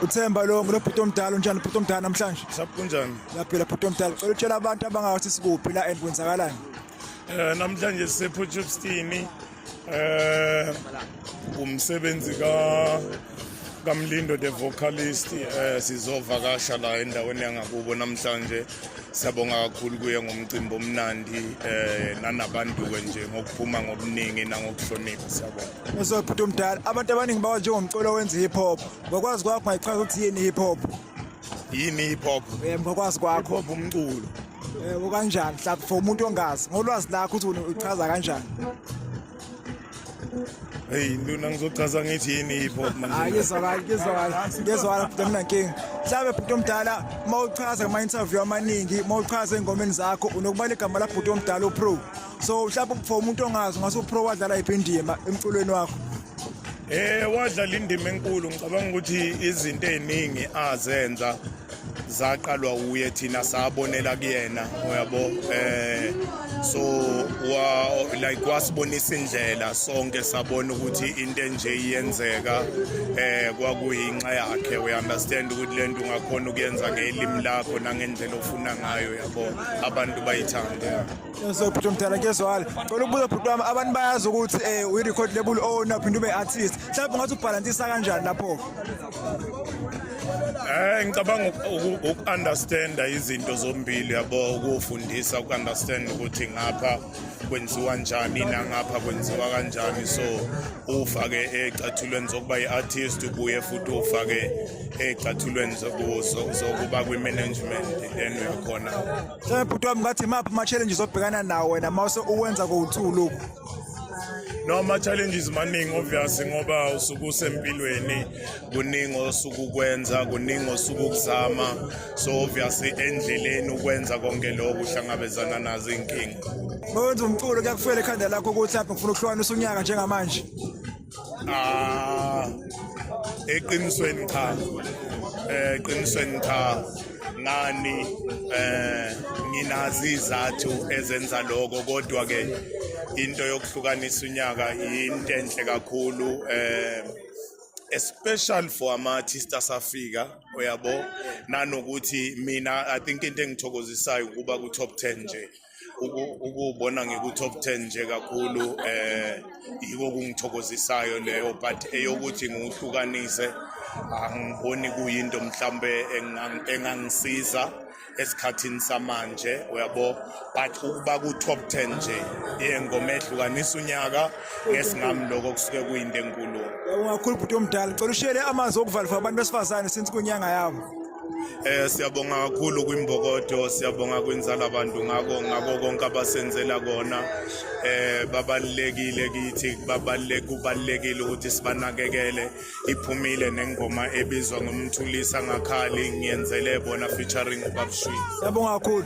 uthemba lo nginobhuti omdala unjani ubhuti omdala namhlanje sakunjani laphela bhuti omdala cela utshela abantu abangawathi sikuphi la and kwenzakalani um namhlanje sisephutshupstini um eh, umsebenzi kamlindo the vocalist um sizovakasha la endaweni yangakubo namhlanje siyabonga kakhulu kuye ngomcimbi omnandi um nanabantu-ke nje ngokuphuma ngobuningi nangokuhlonipha siyabonga Ngizwe bhuti omdala abantu abaningi bawa njengomculo wenza hip hop ngokwazi kwakho ngayichaza ukuthi yini hip hop yini hip hop eh ngokwazi kwakho hip hop umculo eh ukanjani mhlawumbe for umuntu ongazi ngolwazi lakho ukuthi uchaza kanjani Hey nduna ngizochaza ngithi yini hip hop manje. Hayi ngizwakala ngizwakala ngizwakala bhuti mina nkingi. Mhlawumbe bhuti omdala uma uchaza kuma interview amaningi uma uchaza engomeni zakho unokuba igama la bhuti omdala uPro. so mhlawumbe for umuntu ongazi ngase upro wadlala yiphi indima emculweni wakho Eh wadlala indima enkulu ngicabanga ukuthi izinto eziningi azenza zaqalwa uye thina sabonela kuyena uyabo eh so wa like wasibonisa indlela sonke sabona ukuthi into enje iyenzeka eh kwakuyinxa yakhe we understand ukuthi lento ungakhona ukuyenza ngelimi lakho nangendlela ofuna ngayo yabo abantu bayithanda So bhuti omdala ngezwala cela ukubuza bhuti wami abantu bayazi ukuthi um uyi-record label owner phinde ube artist mhlawumbe ungathi ubhalantisa kanjani lapho Eh ngicabanga uku-understanda izinto zombili yabo ukufundisa uku-understand ukuthi ngapha kwenziwa njani nangapha kwenziwa kanjani so ufake ecathulweni zokuba i-artist ubuye futhi ufake ecathulweni zokuba kwi-management then uyakhona Shem bhuti wami ngathi maphi ama challenges obhekana nawo wena mase uwenza kowu2 lokhu No ama challenges maningi obvious ngoba usuku usempilweni kuningi osuku kwenza kuningi osuku kuzama so obvious endleleni ukwenza konke lokho uhlangabezana nazo inkinga. Mawuthi umculo kuyakufela ekhanda lakho ukuthi lapho ngifuna ukuhlwana usunyaka njengamanje. Ah eqinisweni cha eh eqinisweni cha ngani eh nginazi izathu ezenza lokho kodwa ke into yokuhlukanisa unyaka into enhle kakhulu eh especially for ama artists asafika uyabo nanokuthi mina i think into engithokozisayo ukuba ku top 10 nje ukubona ngiku-top 10 nje kakhulu eh yiko kungithokozisayo leyo but eyokuthi ngiwuhlukanise angiboni kuyinto mhlambe engangisiza esikhathini samanje uyabo but ukuba ku-top 10 nje yengoma ehlukanisa unyaka ngesingami lokho kusuke kuyinto enkulu ungakhulu bhuti omdala cela ushele amanzi okuvalifo abantu besifazane since kunyanga yabo Eh siyabonga kakhulu kwimbokodo siyabonga kwinzala abantu ngako ngako konke abasenzela kona eh babalekile kithi babaleke ubalekile ukuthi sibanakekele iphumile nengoma ebizwa ngomthulisa ngakhali ngiyenzele bona featuring ubabshwi Siyabonga kakhulu.